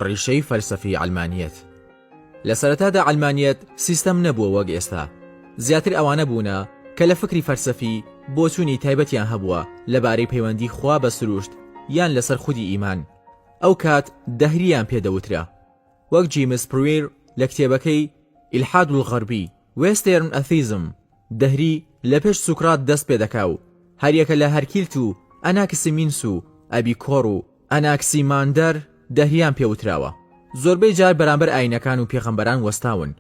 ڕیشەی فەلسەفی عەلمانیەت. لە سەرەتادا عەلمانیەت سیستەم نەبووە وەک ئێستا، زیاتر ئەوانە بوونە کە لە فکری فەلسەفی بۆچوونی تایبەتیان هەبووە لەبارەی پەیوەندی خوا بە سروشت یان لەسەر خودی ئیمان، ئەو کات دەهرییان پێ دەوترا، وەک جیمس پرویر لە کتێبەکەی، الحاد الغربی، Western Atheism، دەهری لە پێش سوکرات دەست پێ دەکا و هەریەکە لە هەرکیلت و ئەناکسیمینس و ئەبیکۆر و ئەناکسیماندەر دەهریان پێ وتراوە، زۆربەی جار بەرامبەر ئاینەکان و پێغەمبەران وەستاون.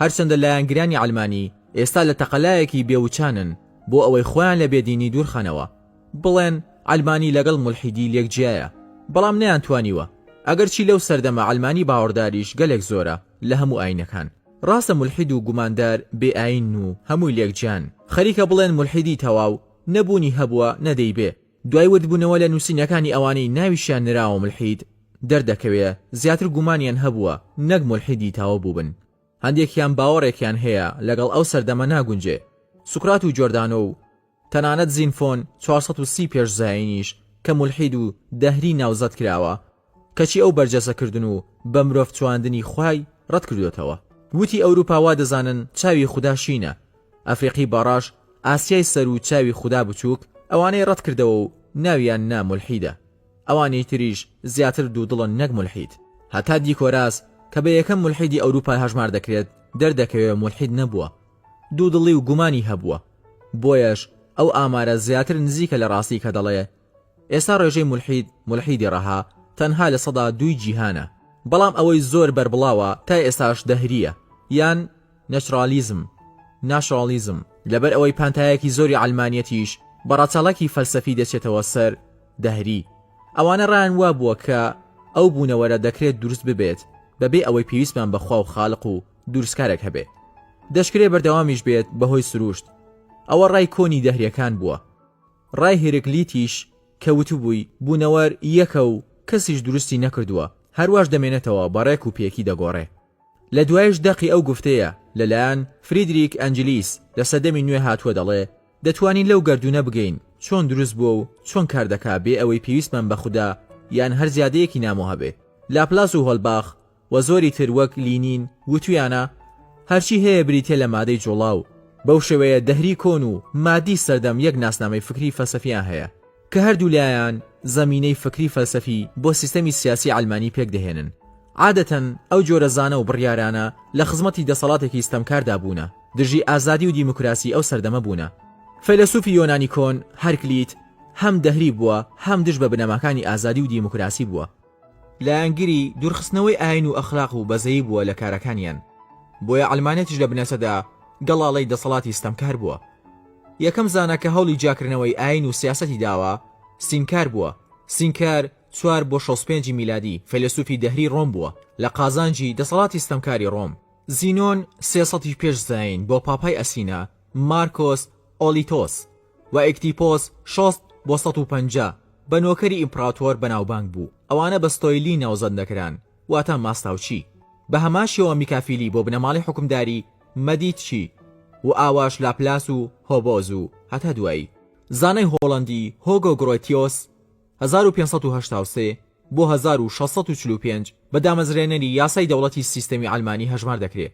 هەرچەندە لایەنگرانی عەلمانی ئێستا لە تەقەلایەکی بێ وچانن بۆ ئەوەی خۆیان لە بێدینی دوورخەنەوە، بڵێن عەلمانی لەگەڵ مولحیدی لێک جیایە، بەڵام نەیانتوانیوە، ئەگەرچی لەو سەردەمە عەلمانی باوەڕداریش گەلێک زۆرە لە هەموو ئاینەکان. ڕاستە مولحید و گوماندار بێ ئاینن و هەمووی لێک جیان، خەریکە بڵێن مولحیدی تەواو، نە بوونی هەبووە نە دەیبێ. دوای وردبوونەوە لە نووسینەکانی ئەوانەی ناویشیان نراوە مولحید، دەردەکەوێ زیاتر گومانیان هەبووە نەک مولحیدی تاوە بووبن. هەندێکیان باوەڕێکیان هەیە لەگەڵ ئەو سەردەمە ناگونجێ. سوکرات و جۆردانۆ و تەنانەت زینفۆن چوار سەد و سی پێش زایینیش کە مولحید و دەهری ناوزەد کراوە، کەچی ئەو بەرجەستە کردن و بە مرۆڤ چواندنی خوای ڕەت کردۆتەوە وتی ئەوروپا وا دەزانن چاوی خودا شینە ئەفریقی باڕاش ئاسیای سەر و چاوی خودا بچوک ئەوانەی ڕەت کردەوە و ناویان نا مولحیدە ئەوانی تریش زیاتر دوودڵن نەک مولحید هەتا دیکۆراس کە بە یەکەم مولحیدی ئەوروپا هەژمار دەکرێت دەردەکەوێ مولحید نەبووە دوودڵی و گومانی هەبووە بۆیەش ئەو ئامارە زیاتر نزیکە لە ڕاستی کە دەڵێ ئێستا ڕێژەی مولحید، مولحیدی ڕەها، تەنها لە سەدا دووی جیهانە، بەڵام ئەوەی زۆر بەربڵاوە تا ئێستاش دەهرییە یان نەچرالیزم، Naturalism، لەبەر ئەوەی پانتایەکی زۆری عەلمانیەتیش بە ڕەچەڵەکی فەلسەفی دەچێتەوە سەر دەهری. ئەوانە ڕایان وابووە کە ئەو بوونەوەرە دەکرێت دروست ببێت بەبێ ئەوەی پێویستمان بە خوا و خالق و دروستکارێک هەبێ. دەشکرێ بەردەوامیش بێت بەهۆی سرووشت. ئەوە ڕای کۆنی دەهریەکان بووە. ڕای هیرکلیتیش کە وتبووی، بوونەوەر یەکە و کەسیش دروستی نەکردووە، هەرواش دەمێنێتەوە بە ڕێک و پێکی دەگۆڕێ. لە دوایش دەقی ئەو گفتەیە لە لایەن فریدریک ئەنجلیس لە سەردەمی نوێ هاتووە دەڵێ، دەتوانین لەو گەردوونە بگەین چۆن دروست بووە و چۆن کار دەکا بێ ئەوەی پێویستمان بە خودا یان هەر زیادەیەکی نامۆ هەبێ. لاپلاس و هۆلباخ و زۆری تر وەک لینین وتویانە هەرچی هەیە بریتیە لە مادەی جوڵاو، بەو شێوەیە دەهری کۆن و مادی سەردەم یەک ناسنامەی فکری فەلسەفیان هەیە کە هەردوو لایان زەمینەی فکری فەلسەفی بۆ سیستەمی سیاسی عەلمانی پێک دەهێنن عادەتەن ئەو جۆرە زانا و بڕیارانە لە خزمەتی دەسەڵاتێکی ستەمکاردا بوونە دژی ئازادی و دیموکراسی ئەو سەردەمە بوونە فەیلەسوفی یۆنانی کۆن، هەرکلیت، هەم دەهری بووە هەم دژ بە بنەماکانی ئازادی و دیموکراسی بووە. لایەنگری دوورخستنەوەی ئاین و ئەخلاق و بەزەیی بووە لە کارەکانیان، بۆیە عەلمانیەتیش لە بنەچەدا گەڵاڵەی دەسەڵاتی ستەمکار بووە. یەکەم زانا کە هەوڵی جیاکردنەوەی ئاین و سیاسەتی داوە، سینکار بووە، سینکار، چوار بۆ شەست پێنج میلادی، فەیلەسوفی دەهری ڕۆم بووە، لە قازانجی دەسەڵاتی ستەمکاری ڕۆم. زینۆن، سێ سەدی پێش زایین بۆ پاپای ئەسینا، مارکۆس ئۆلیتۆس، و ئیکتیپۆس شەست بۆ سەد و پەنجا بە نۆکەری ئیمپڕاتۆر بەناوبانگ بوو، ئەوانە بە ستۆیلی ناوزەند دەکران واتە ماستاوچی، بە هەمان شێوە میکافیلی بۆ بنەماڵەی حوکمداری مەدیتچی و ئاواش لاپلاس و هۆبۆز و هەتا دوایی. زانای هۆڵەندی هۆگۆ گڕۆتیۆس هەزار و پێنج سەد و هەشتا و سێ بۆ هەزار و شەش سەد و چل و پێنج بە دامەزرێنەری یاسای دەوڵەتی سیستەمی عەلمانی هەژمار دەکرێ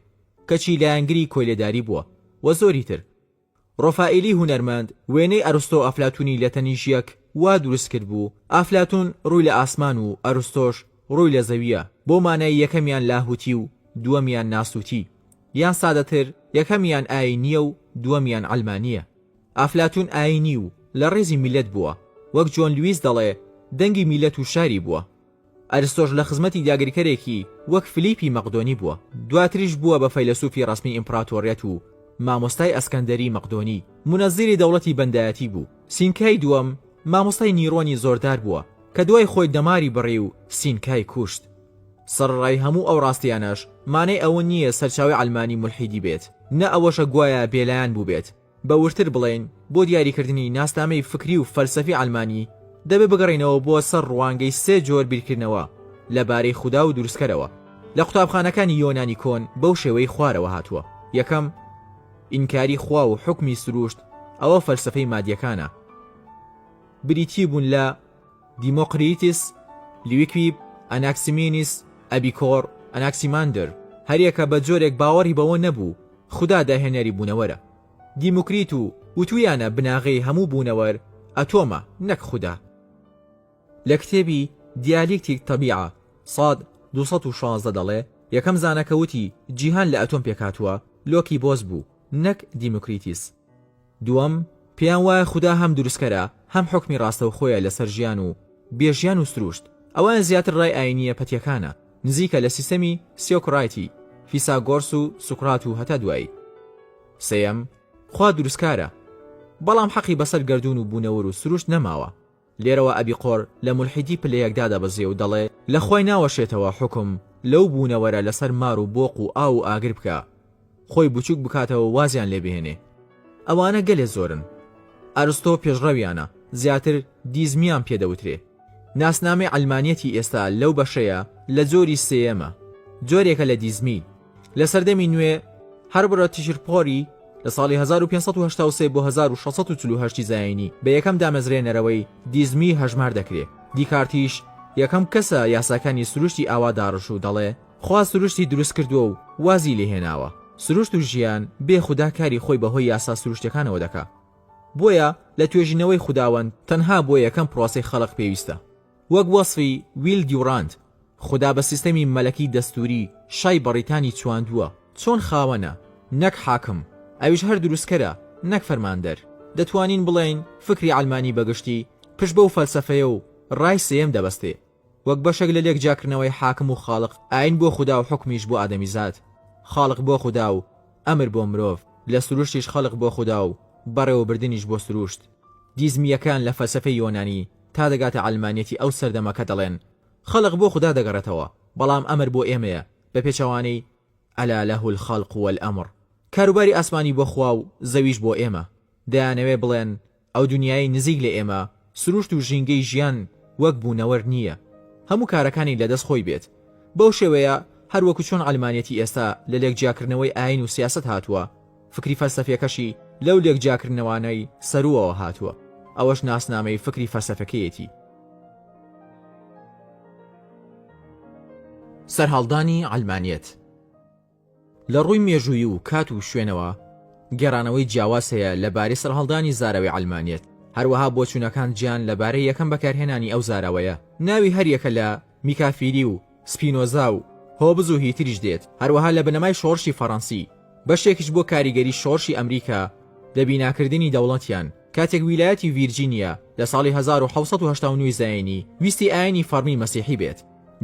کەچی لایەنگری کۆیلەداری بووە و زۆری تر. ڕۆفائیلی هونەرمەند وێنەی ئەرستۆو ئەفلاتونی لە تەنیش یەک وا دروست کردبوو، ئەفلاتون ڕووی لە ئاسمان و ئەرستۆش ڕووی لە زەوییە، بۆ مانای یەکەمیان لاهوتی و دووەمیان ناسوتی، یان سادەتر یەکەمیان ئایینییە و دووەمیان عەلمانییە. ئەفلاتون ئایینی و لە ڕێزی میللەت بووە، وەک جۆن لویس دەڵێ دەنگی میللەت و شاری بووە. ئەرستۆش لە خزمەتی داگیرکەرێکی وەک فلیپی مەقدۆنی بووە، دواتریش بووە بە فەیلەسوفی ڕەسمی ئیمپڕاتۆریەت و مامۆستای ئەسکەندەری مەقدۆنی، مونەزیری دەوڵەتی بەندایەتی بوو. سینکای دووەم مامۆستای نیرۆنی زۆردار بووە، کە دوای خۆی دەماری بڕی و سینکای کوشت. سەڕڕای هەموو ئەو ڕاستیانەش مانای ئەوە نییە سەرچاوەی عەلمانی مولحیدی بێت، نە ئەوەشە گوایا بێلایەن بووبێت، بە وردتر بڵێین، بۆ دیاریکردنی ناسنامەی فکری و فەلسەفی عەلمانی، دەبێ بگەڕێینەوە بۆ سەر ڕوانگەی سێ جۆر بیرکردنەوە لە بارەی خودا و دروستکەرەوە. لە قوتابخانەکانی یۆنانی کۆن بەو شێوەی خوارەوە هاتووە، یەکەم، ئینکاری خوا و حوکمی سرووشت، ئەوە فەلسەفەی مادییەکانە، بریتی بوون لە دیمۆقریتیس، لیویکویب، ئەناکسیمینیس، ئەبیکۆر، ئەناکسیماندر، هەریەکە بە جۆرێک باوەڕی بەوە نەبوو خودا داهێنەری بوونەوەرە. دیموکریت و وتوویانە بناغەی هەموو بوونەوەر ئەتۆمە نەک خودا. لە کتێبی، دیالیکتیک تەبیعە، ساد دوو سەد و شازدە دەڵێ، یەکەم زانا کە وتی جیهان لە ئەتۆم پێکهاتووە، لۆکی بۆس بوو نەک دیموکریتیس. دووەم، پێیان وایە خودا هەم دروستکەرە، هەم حوکمی ڕاستەوخۆیە لەسەر ژیان و بێ ژیان و سرووشت. ئەوەیان زیاتر ڕای ئایینییە پەتییەکانە، نزیکە لە سیستەمی سیۆکڕایتی، فیساگۆرس و سوکرات و هەتا دوایی. سێیەم، خوا دروستکارە، بەڵام حەقی بەسەر گەردوون و بوونەوەر و سرووشت نەماوە. لێرەوە ئەبیقۆر لە مولحیدی پلە یەک دادەبەزێ و دەڵێ، لە خوای ناوەشێتەوە حوکم لەو بوونەوەرە لەسەر مار و بۆق و ئاو و ئاگر بکا، خۆی بچووک بکاتەوە و وازیان لێ بهێنێ. ئەوانە گەلێ زۆرن. ئەرستۆ پێشڕەویانە، زیاتر دیزمیان پێ دەوترێ. ناسنامەی عەلمانیەتی ئێستا لەو بەشەیە لە جۆری سێیەمە. جۆرێکە لە دیزمی. لە سەردەمی نوێ هەربرا تیشرپۆری لە ساڵی 1583 بۆ 1648 زایینی بە یەکەم دامەزرێنەرەوەی دیزمی هەژمار دەکرێ دیکارتیش یەکەم کەسە یاساکانی سروشتی ئاوا داڕش و دەڵێ خوا سروشتی دروست کردووە و وازی لێهێناوە سروشت و ژیان بێ خودا کاری خۆی بەهۆی یاسا سروشتەکانەوە دەکا بۆیە لە توێژینەوەی خوداوەند تەنها بۆ یەکەم پرۆسەی خەڵق پێویستە وەک وەسفی ویل دیوڕانت، خودا بە سیستەمی مەلەکی دەستووری شای بەڕیتانی چواندووە، چۆن خاوەنە، نەک حاکم، ئەویش هەر دروستکەرە، نەک فەرماندەر. دەتوانین بڵێین فکری عەلمانی بە گشتی پشت بەو فەلسەفەیە و ڕای سێیەم دەبەستێ، وەک بەشێک لە لێکجیاکردنەوەی حاکم و خالق، ئایین بۆ خودا و حوکمیش بۆ ئادەمیزاد، خالق بۆ خودا و ئەمر بۆ مرۆڤ، لە سروشتیش خەلق بۆ خودا و بەڕێوەبردنیش بۆ سروشت. دیزمییەکان لە فەلسەفەی یۆنانی، تا دەگاتە عەلمانیەتی ئەو سەردەمە کە دەڵێن خەڵق بۆ خودا دەگەڕێتەوە بەڵام ئەمر بۆ ئێمەیە بە پێچەوانەی الا له الخلق والامر کاروباری ئاسمانی بۆ خوا و زەویش بۆ ئێمە دەیانەوێ بڵێن ئەو دونیایەی نزیک لە ئێمە سروشت و ژینگەی ژیان وەک بوونەوەر نییە هەموو کارەکانی لە دەست خۆی بێت بەو شێوەیە هەروەکو چۆن عەلمانیەتی ئێستا لە لێک جیاکردنەوەی ئاین و سیاسەت هاتووە فکری فەلسەفیەکەشی لەو لێک جیاکردنەوانەی سەرووەوە هاتووە، ئەوەش ناسنامەی فکری فەلسەفەکەیەتی. سەرهەڵدانی عەلمانیەت لە ڕووی مێژوویی و کات و شوێنەوە گێڕانەوەی جیاواز هەیە لە بارەی سەرهەڵدانی زاراوەی عەلمانیەت، هەروەها بۆچوونەکان جیان لە بارەی یەکەم بەکارهێنانی ئەو زاراوەیە، ناوی هەریەکە لە، میکافیری و سپینۆزا و هۆبز و هیتریش دێت، هەروەها لە بنەمای شۆڕشی فەڕەنسی، بەشێکیش بۆ کاریگەری شۆڕشی ئەمریکا لە بیناکردنی دەوڵەتیان، کاتێک ویلایەتی ڤیرجینیا لە ساڵی هەزار و حەوت سەد و هەشتا و نۆ زایینی ویستی ئایینی فەڕمی مەسیحی بێت،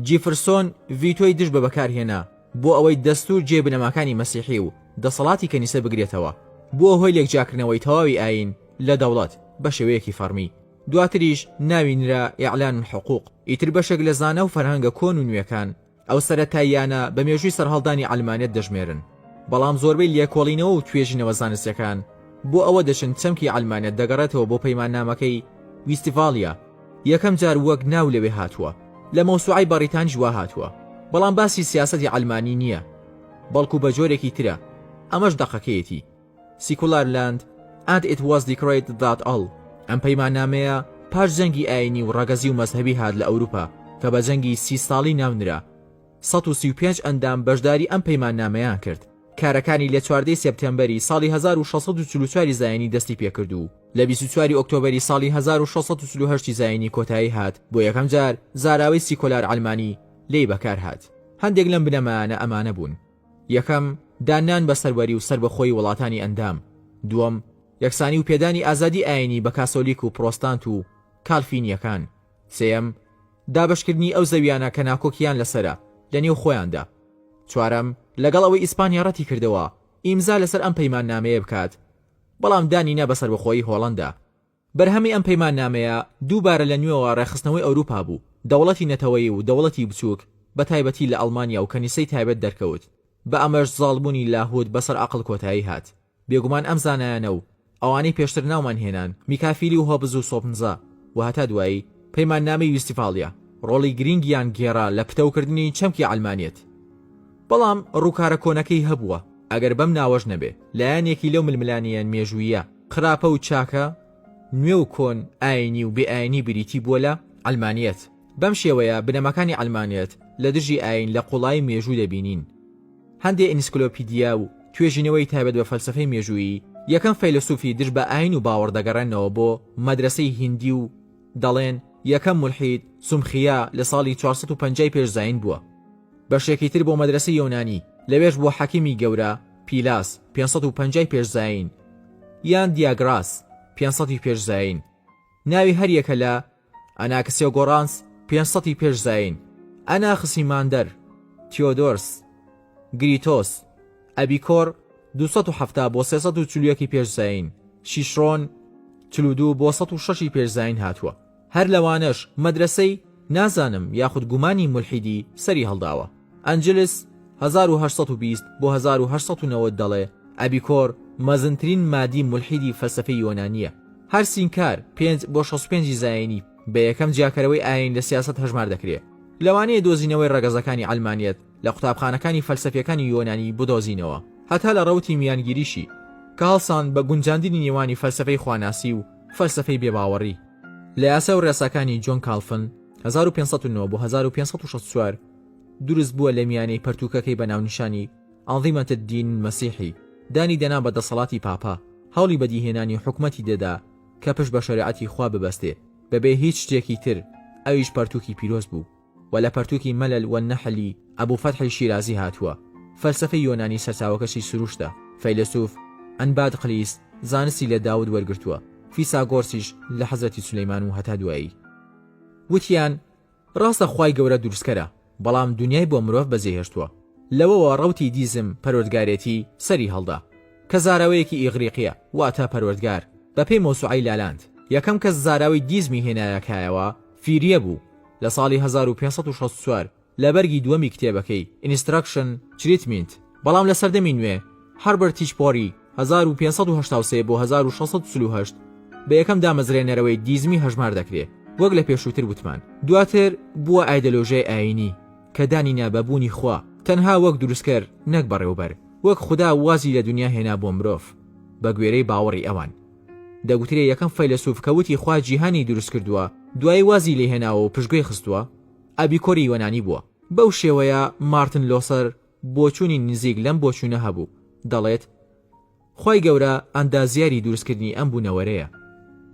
جیفرسۆن ڤیتۆی دژ بە بەکارهێنا بۆ ئەوەی دەستوور جێی بنەماکانی مەسیحی و دەسەڵاتی کەنیسە بگرێتەوە، بووە هۆی لێکجیاکردنەوەی تەواوی ئایین لە دەوڵەت بە شێوەیەکی فەڕمی. دواتریش ناوی نرا اعلان الحقوق ئیتر بەشێک لە زانا و فەرهەنگە کۆن و نوێکان ئەو سەرەتاییانە بە مێژووی سەرهەڵدانی عەلمانیەت دەژمێرن بەڵام زۆربەی لێکۆڵینەوە و توێژینەوە زانستیەکان بۆ ئەوە دەچن چەمکی عەلمانیەت دەگەڕێتەوە بۆ پەیماننامەکەی ویستڤاڵیا یەکەم جار وەک ناو لەوێ هاتووە لە مەوسوعەی بەڕیتانیش وا هاتووە بەڵام باسی سیاسەتی عەلمانی نییە بەڵکو بە جۆرێکی ترە ئەمەش دەقەکەیەتی سیکولار لاند ئەند ئیت واز دیکرەیت دات ئەڵ، ئەم پەیماننامەیە پاش جەنگی ئایینی و ڕەگەزی و مەزهەبی هات لە ئەوروپا کە بە جەنگی سی ساڵی ناونرا، سەد و سی و پێنج ئەندام بەشداری ئەم پەیماننامەیان کرد. کارەکانی لە چواردە سێپتێمبەری ساڵی هەزار و شەش سەد و چل و چوار زایینی دەستی پێکرد و لە بیست و چوار ئۆکتۆبەری ساڵی هەزار و شەش سەد و چل و هەشت زایینی کۆتایی هات، بۆ یەکەم جار زاراوەی سیکۆلار عەلمانی لێی بەکار هات. هەندێک لەم بنەمایانە ئەمانە بوون. یەکەم، داننان بە سەروەری و سەربەخۆیی وڵاتانی ئەندام. دووەم، یەکسانی و پێدانی ئازادی ئایینی بە کاسۆلیک و پرۆستانت و کالفینیەکان. سێیەم، دابەشکردنی ئەو زەویانە کە ناکۆکییان لەسەرە لە نێو خۆیاندا. چوارەم، لەگەڵ ئەوەی ئیسپانیا ڕەتی کردەوە ئیمزا لەسەر ئەم پەیماننامەیە بکات، بەڵام دانی نا بە سەربەخۆیی هۆڵەندا. بەرهەمی ئەم پەیماننامەیە دووبارە لە نوێوە ڕێکخستنەوەی ئەوروپا بوو، دەوڵەتی نەتەوەیی و دەوڵەتی بچووک، بە تایبەتی لە ئەڵمانیا و کەنیسەی تایبەت دەرکەوت، بە ئەمەش زاڵبوونی لاهوت بەسەر عەقڵ کۆتایی هات. بێگومان ئەم زانایانە و ئەوانەی پێشتر ناومان هێنان، میکافیلی و هۆبز و سۆپنزا و هەتا دوایی، پەیماننامەی ویستیفالیا ڕۆڵی گرینگیان گێڕا لە پتەوکردنی چەمکی عەلمانیەت. بەڵام ڕووکارە کۆنەکەی هەبووە، ئەگەر بەم ناوەش نەبێ، لایەنێکی لەو ململانێیە مێژووییە، خراپە و چاکە، نوێ و کۆن، ئاینی و بێ ئاینی بریتی بووە لە، عەلمانیەت. بەم شێوەیە بنەماکانی عەلمانیەت لە دژی ئاین لە قوڵایی مێژوو دەبینین. هەندێ ئینسکلۆپیدیا و توێژینەوەی تایبەت بە فەلسەفەی مێژوویی، یەکەم فەیلەسوفی دژ بە ئاین و باوەڕ دەگەڕێننەوە بۆ، مەدرەسەی هیندی، و دەڵێن، یەکەم مولحید، سومخیا، لە ساڵی چوار سەد و پەنجا ی پێش زایین بووە. بەشێکی تر بۆ مەدرەسەی یۆنانی، لەوێش بۆ حەکیمی گەورە، پیلاس، پێنج سەد و پەنجا ی پێش زایین، یان دیاگراس، پێنج سەد ی پێش زایین، ناوی هەر یەکە لە، ئەناکسێگۆرانس، پێنج سەد ی پێش زایین، ئەناخسیماندەر، تیۆدۆرس، گریتۆس، ئەبیکۆر، دوو سەد و حەفتا بۆ سێ سەد و چل و یەک ی پێش زایین، شیشرۆن، چل و دوو بۆ سەد و شەش ی پێش زایین هاتووە. هەر لەوانەش مەدرەسەی، نازانم یاخود گومانی مولحیدی، سەری هەڵداوە. ئەنجلس، هەزار و هەشت سەد و بیست بۆ هەزار و هەشت سەد و نەوەد دەڵێ، ئەبیکۆر، مەزنترین مادی مولحیدی فەلسەفەی یۆنانییە. هەر سینکار، پێنج بۆ شەست و پێنج ی زایینی، بە یەکەم جیاکەرەوەی ئایین لە سیاسەت هەژمار دەکرێ. لەوانەیە دۆزینەوەی ڕەگەزەکانی عەلمانیەت لە قوتابخانەکانی فەلسەفییەکانی یۆنانی بدۆزینەوە هەتا لە ڕەوتی میانگیریشی، کە هەڵسان بە گونجاندنی نێوانی فەلسەفەی خواناسی و، فەلسەفەی بێباوەڕی، لە یاسا و ڕێساکانی جۆن کاڵفن، هەزار و پێنج سەد و نۆ بۆ هەزار و پێنج سەد و شەست و چوار، دروست بووە لە میانەی پەرتووکەکەی بە ناونیشانی، ئەنظیمەت الدین المسیحی، دانی دەنا بە دەسەڵاتی پاپا، هەوڵی بەدیهێنانی حکومەتی دەدا کە پشت بە شەریعەتی خوا ببەستێ، بەبێ هیچ شتێکی تر، ئەویش پەرتووکی پیرۆز بوو. وە لە پەرتووکی مەلەل والنەحلی ئەبو فەتحی شیرازی هاتووە، فەلسەفەی یۆنانی سەرچاوەکەشی سروشتە، فەیلەسوف، ئەنبادقلیس، زانستی لە داود وەرگرتووە، فیساگۆرسیش لە حەزرەتی سولەیمان و هەتا دوایی. وتیان، ڕاستە خوای گەورە دروستکەرە، بەڵام دونیای بۆ مرۆڤ بەجێهێشتووە. لەوەوە ڕەوتی دیزم، پەروەردگارێتی، سەری هەڵدا، کە زاراوەیەکی ئیغریقییە، واتە پەروەردگار، بەپێی مەوسوعەی لالانت، یەکەم کەس زاراوەی دیزمی هێنایە کایەوە، فیریە بوو، لە ساڵی هەزار و پێنج سەد و شەست و چوار لە بەرگی دووەمی کتێبەکەی، Instruction، Treatment، بەڵام لە سەردەمی نوێ، Herbert H. Pory، هەزار و پێنج سەد و هەشتا و سێ بۆ هەزار و شەش سەد و چل و هەشت، بە یەکەم دامەزرێنەرەوەی دیزمی هەژمار دەکرێ، وەک لە پێشووتر وتمان. دواتر بووە ئایدەلۆژیای ئایینی، کە دانی نا بە بوونی خوا، تەنها وەک دروستکەر نەک بەڕێوەبەر، وەک خودا وازی لە دونیا هێنا بۆ مرۆڤ، بە گوێرەی باوەڕی ئەوان. دەگوترێ یەکەم فەیلەسوف کە وتی خوا جیهانی دروست کردووە دوایی وازی لێ هێناوە و پشتگوێی خستووە ئەبیکۆری یۆنانی بووە. بەو شێوەیە مارتن لۆسەر بۆچوونی نزیک لەم بۆچوونە هەبوو، دەڵێت، خوای گەورە ئەندازیاری دروست کردنی ئەم بوونەوەرەیە،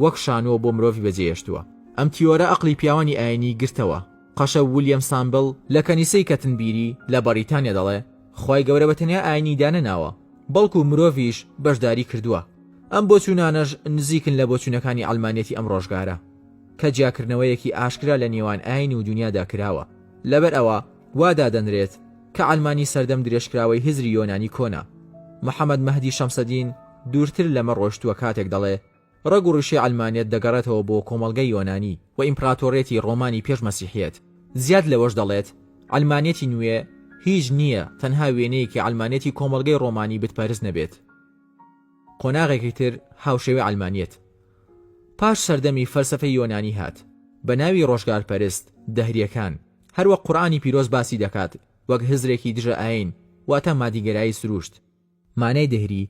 وەک شانۆ بۆ مرۆڤی بەجێهێشتووە. ئەم تیۆرە ئەقڵی پیاوانی ئایینی گرتەوە قەشە ولیەم سامبل لە کەنیسەی کەتنبیری لە بەڕیتانیا دەڵێ، خوای گەورە بە تەنیا ئاینی دانەناوە بەڵکو مرۆڤیش بەشداری کردووە، ئەم بۆچوونانەش نزیکن لە بۆچوونەکانی عەلمانیەتی ئەم ڕۆژگارە کە جیاکردنەوەیەکی ئاشکرا لە نێوان ئاین و دونیادا کراوە لەبەر ئەوە وا دادەنرێت کە عەلمانی سەردەم درێژکراوەی هزری یۆنانی کۆنە محەمەد مەهدی شەمسەدین دوورتر لەمە ڕۆشتووە کاتێک دەڵێ ڕەگ و ڕیشەی عەلمانیەت دەگەڕێتەوە بۆ کۆمەڵگەی یۆنانی و ئیمپراتۆریەتی ڕۆمانی پێش مەسیحیەت، زیاد لەوەش دەڵێت، عەلمانیەتی نوێ هیچ نییە تەنها وێنەیەکی عەلمانیەتی کۆمەڵگەی ڕۆمانی بتپەرست نەبێت. قۆناغێکی تر هاوشێوەی عەلمانیەت پاش سەردەمی فەلسەفەی یۆنانی هات بە ناوی ڕۆژگارپەرست، دەهریەکان، هەروەک قورئانی پیرۆز باسی دەکات وەک هزرێکی دژە ئایین واتە مادیگەرایی سروشت، مانای دەهری،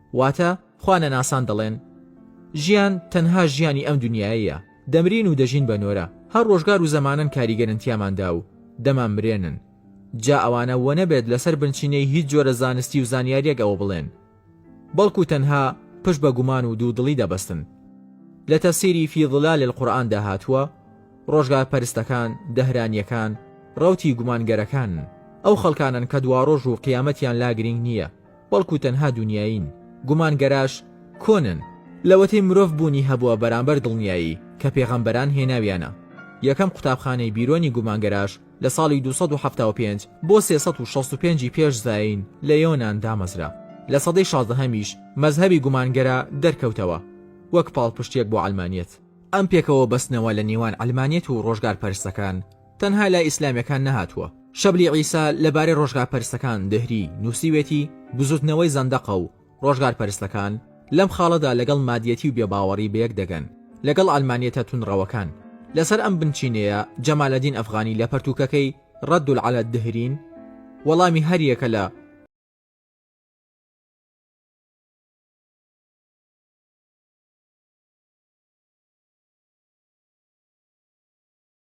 واتە، خوانەناسان دەڵێن، ژیان تەنها ژیانی ئەم دونیایەیە، دەمرین و دەژین بە نۆرە، هەر ڕۆژگار و زەمانەن کاریگەرن تیاماندا و دەمانمرێنن، جا ئەوانە وەنەبێت لەسەر بنچینەی هیچ جۆرە زانستی و زانیاریەک ئەوە بڵێن، بەڵکو تەنها پشت بە گومان و دوودڵی دەبەستن. لە تەفسیری فی ظلال القرآن دا هاتووە، ڕۆژگارپەرستەکان، دەهرانیەکان، ڕەوتی گومانگەرەکانن، ئەو خەڵکانەن کە دواڕۆژ و قیامەتیان لا گرینگ نییە، بەڵکو تەنها دونیایین، گومانگەراش کۆنن، لەوەتەی مرۆڤ بوونی هەبووە بەرامبەر دڵنیایی کە پێغەمبەران هێناویانە، یەکەم قوتابخانەی بیرۆنی گومانگەراش لە ساڵی دوو سەد و حەفتا و پێنج بۆ سێ سەد و شەست و پێنج ی پێش زایین لە یۆنان دامەزرا، لە سەدەی شازدەهەمیش مەزهەبی گومانگەرا دەرکەوتەوە وەک پاڵپشتیەک بۆ عەلمانیەت. ئەم پێکەوە بەستنەوە لە نێوان عەلمانیەت و ڕۆژگارپەرستەکان، تەنها لای ئیسلامیەکان نەهاتووە. شەبلی عیسا لە بارەی ڕۆژگارپەرستەکان دهری نووسیوێتی، بزووتنەوەی زەندەقە و ڕۆژگارپەرستەکان لەم خاڵەدا لەگەڵ مادیەتی و بێباوەڕی بەیەک دەگەن لەگەڵ عەلمانیەتە توندڕەوەکان. لەسەر ئەم بنچینەیە جەمالەدین ئەفغانی لە پەرتووکەکەی، رد علی الدهرین، وەڵامی هەریەکە لە،